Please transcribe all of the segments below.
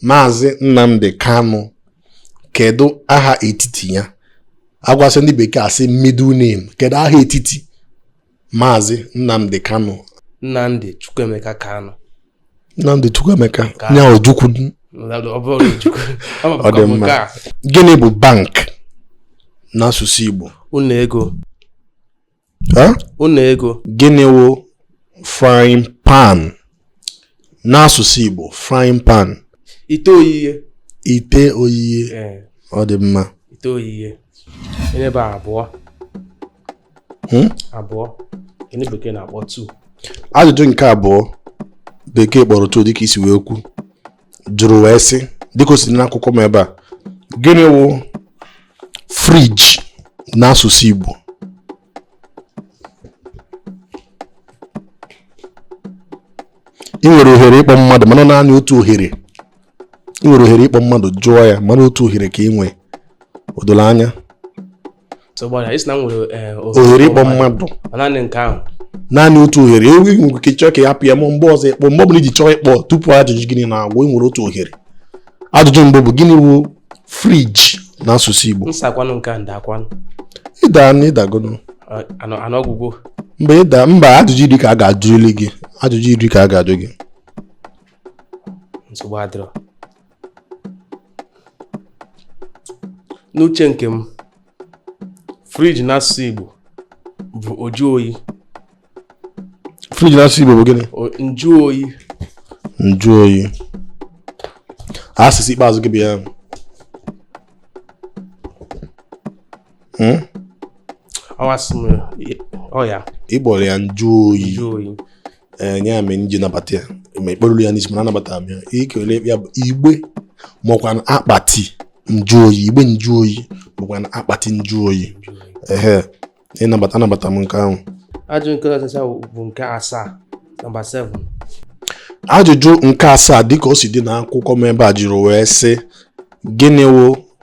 Maazị Nnamdi Kanu kedu aha etiti ya agwasị ndị bekee asị middle name kedu aha etiti Maazị Nnamdi Kanu Nnamdi Chukwuemeka Kanu Nnamdi Chukwuemeka ya Ojukwu ọ dị mma gịnị bụ bank n'asụsụ Igbo ụlọ ego ụlọ ego gịnị wụ frying pan n'asụsụ Igbo frying pan ite oyiye ite oyiye ọ dị mma ite oyiye enebe abụọ hmm? abụọ ndị bekee na-akpọ two ajụjụ nke abụọ bekee kpọrọ two dịka e si wee kwu jụrụ wee sị dịka o si n'akwụkwọ m ebe a gịnị wụ fridge n'asụsụ Igbo ị nwere ohere ịkpọ mmadụ mana naanị otu ohere ị nwere ohere ịkpọ mmadụ jụọ ya mana otu ohere ka ị nwee o doro anya ohere ịkpọ mmadụ naanị otu ohere ewu nwere ike chọọ ka ị hapụ ya ma mgbe ọzọ ị kpọọ mgbe ọbụla i ji chọọ ịkpọ tupu ajụjụ gị niine agwụ ị nwere otu ohere ajụjụ mbụ bụ gịnị wụ fridge n'asụsụ Igbo ịda na ịdagodo mba ịda mba ajụjụ iri ka a ga-ajụli gị ajụjụ iri ka a ga-ajụ gị n'uche nke m fridge n'asụsụ Igbo bụ ọjụ oyi fridge n'asụsụ Igbo bụ gịnị njụ oyi njụ oyi azịza ikpeazụ gị bụ ya Hmm? ị kpọrọ ya njụ oyi enye ya mere m ji nabata ya ma ekperuru ya n'isi mana anabata m ya ikele ya bụ igbe makwa akpati njụ oyi igbe njụ oyi makwa akpati njụ oyi ehe ịnabata anabata m nke ahụ ajụjụ nke ọzọ bụ nke asaa nọmba 7 ajụjụ nke asaa dịka o si dị n'akwụkwọ m ebe a jụrụ wee sị gịnị wụ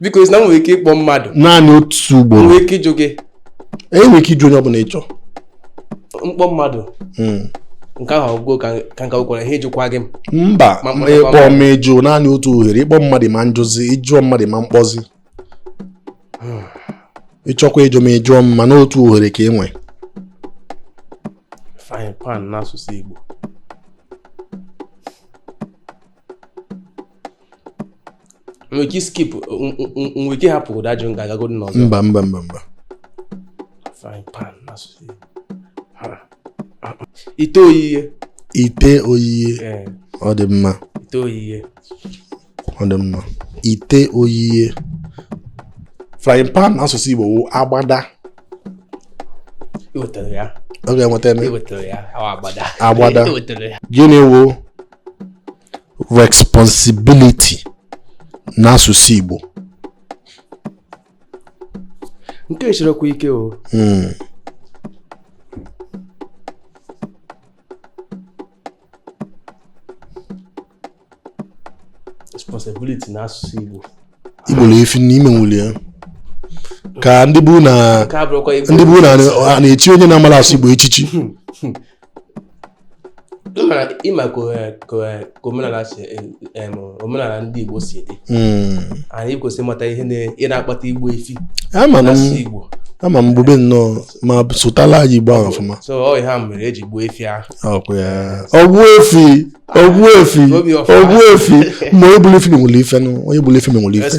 biko ị sị na m nwere ike ịkpọ mmadụ naanị otu ugboro nwere ike ịjụ gị ee ị nwere ike ịjụ onye ọbụla ị chọ m kpọọ mmadụ Mm. nke ahụ ọ gwụgwo ka ka nka gwara ihe ịjụkwa gị m mba Ma- ma- ma- ịkpọ m ịjụ naanị otu ohere ịkpọ mmadụ ma njụzi ị jụọ mmadụ ma mkpọzi ị chọkwa ịjụ ma ị jụọ m mana otu ohere ka ị nwe frying pan n'asụsụ Igbo nwere ike skip nwere ike hapụ ụda ajụ m ga-agagodi n'ọzọ mba mba mba mba ite oyiye ite oyiye ọ dị mma ite oyiye ọ dị mma ite oyiye frying pan n'asụsụ Igbo wụ agbada ọ ga-enweta eme agbada gịnị wụ responsibility n'asụsụ Igbo nke a sirikwa ike o hmm. responsibility n'asụsụ Igbo igbu efi n'ime nwuli ya ka ndị Igbo na ndị Igbo na na-echi onye na-amara asụ Igbo echichi ịma ka omenala si omenala ndị Igbo si dị hmm. anyị kwesịrị ịmata ihe na-akpata igbu efi asụ Igbo ama m bube nnọọ ma sụtala anyị Igbo ahụ ọfụma ogbuefi ogbuefi ogbuefi ma onye gbulu efi menwere ife onye gbulu efi menwere ife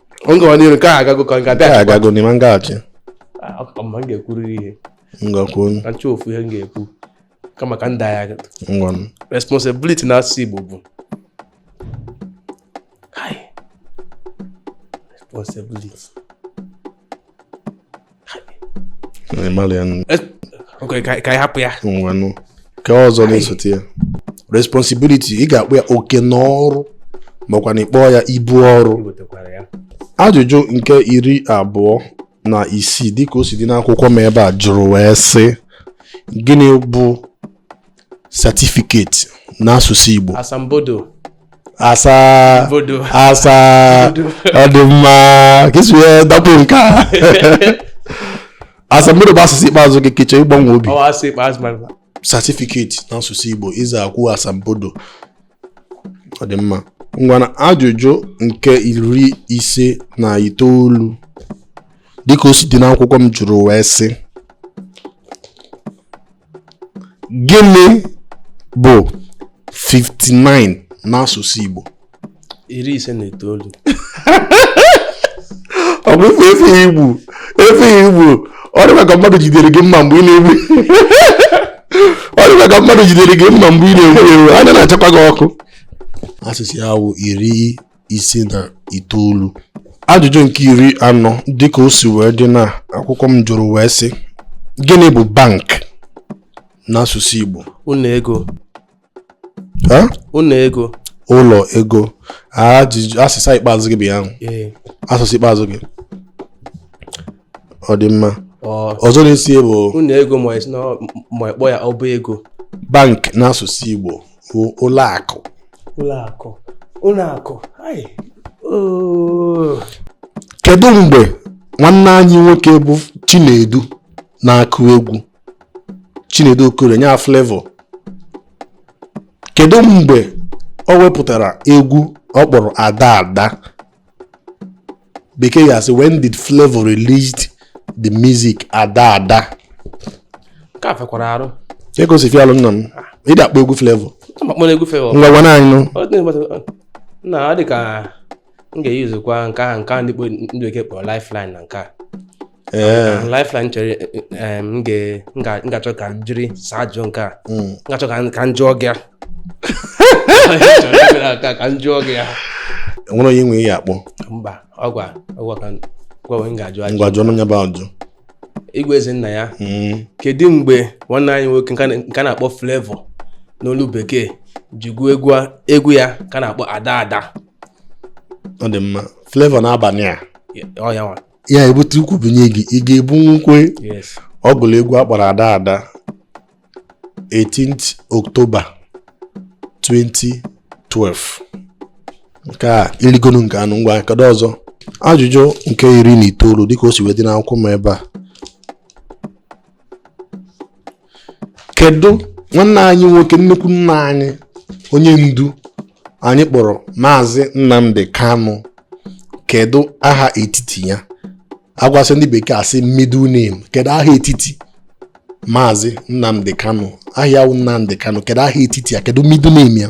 m gawa n'iru nke a agago ka nke a bịa agago n'ime ngaghachi ah, ma m ga-ekwuru ihe m ga-ekwu ka m chọọ ofu ihe m ga-ekwu kama ka m daa ya ngwanụ responsibility na asụsụ Igbo bụ responsibility Okay, ka anyị hapụ ya ngwanụ nke ọzọ na-esote ya responsibility ị ga-akpọ ya oke na ọrụ makwanụ ị kpọọ ya ibu ọrụ ajụjụ nke iri abụọ na isii dịka o si dị n'akwụkwọ m ebe a jụrụ wee sị gịnị bụ certificate n'asụsụ Igbo asambodo asambodo asa ọ dị mma ka esi wee dapụ nke a asambodo bụ ọsịsa ikpeazụ gị ka ị chọ ịgbanwe obi ọsịsa ikpeazụ mara certificate n'asụsụ Igbo ịza akwụ asambodo ọ dị mma ngwanụ ajụjụ nke iri ise na itoolu dịka o si dị n'akwụkwọ m jụrụ wee sị gịnị bụ 59 n'asụsụ Igbo iri ise na itoolu ọ bụ ife efi igbu efi igbu ọ dịkwa ka mmadụ jidere gị mma mgbe ị na-egbu ọ dịkwa ka mmadụ jidere gị mma mgbe ị na-egbu ewu anya na-achakwa gị ọkụ ọsịsa ya wụ iri ise na itoolu ajụjụ nke iri anọ dịka o si wee dị na akwụkwọ m jụrụ wee sị gịnị bụ bank n'asụsụ Igbo ụlọ ego ụlọ ego ụlọ ego asịsa ikpeazụ gị bụ ya asịsa ikpeazụ gị ọ dị mma ọzọ na-esi bụ ụlọ ego ma ị kpọọ ya ọba ego bank n'asụsụ Igbo bụ ụlọ akụ ụlọ akụ ụlọ akụ ai oo kedu mgbe nwanne anyị nwoke bụ chinedu na-akụ egwu chinedu Okoli nya Flavour kedu mgbe o wepụtara egwu ọ kpọrọ ada ada bekee ya sị when did Flavour released the music ada ada ka fekwara arụ ka egosi fialụ nna m ị dị akpọ egwu Flavour akpọrọ egwu Flavour ngwa gwana anyị nụ Ọ dị mma- na ọ dị ka m ga-eyuzukwa nke ahụ nke ahụ ndị kpo- ndị bekee kpọrọ lifeline na nke a Eh. Uh, lifeline chere eh, m ga-achọ ka m jiri saa ajụjụ nke a m hmm. ga-achọ ka m jụọ gị ka m jụọ gị ya e nwere onye ị ya-akpọ mba ọ gịwa ọ gịwa ka gwawe m ga-ajụ ajụ ngwa jụọ n'onye bụ ajụ igwe eze nna ya hmm. kedu mgbe nwanne anyị nwoke nke a na-akpọ Flavour n'olu bekee ji gụọ egwu egwu ya ka a na-akpọ ada ada ọ dị mma Flavour N'abania ọ ya nwa ya ebute ukwu bunye gị ị ga-ebunwukwe ọ gụrụ egwu a kpọrọ ada ada 18 October 2012 nke a i ligonu nke anụ ngwa kedu ọzọ ajụjụ nke iri na itoolu dịka o si wee dị n'akwụkwọ m ebe a kedu nwanne anyị nwoke nnukwu nna anyị onye ndu anyị kpọrọ maazị Nnamdi Kanu kedu aha etiti ya agwasị ndị bekee asị middle name kedu aha etiti maazị Nnamdi Kanu aha ya Nnamdi Kanu kedu aha etiti ya kedu middle name ya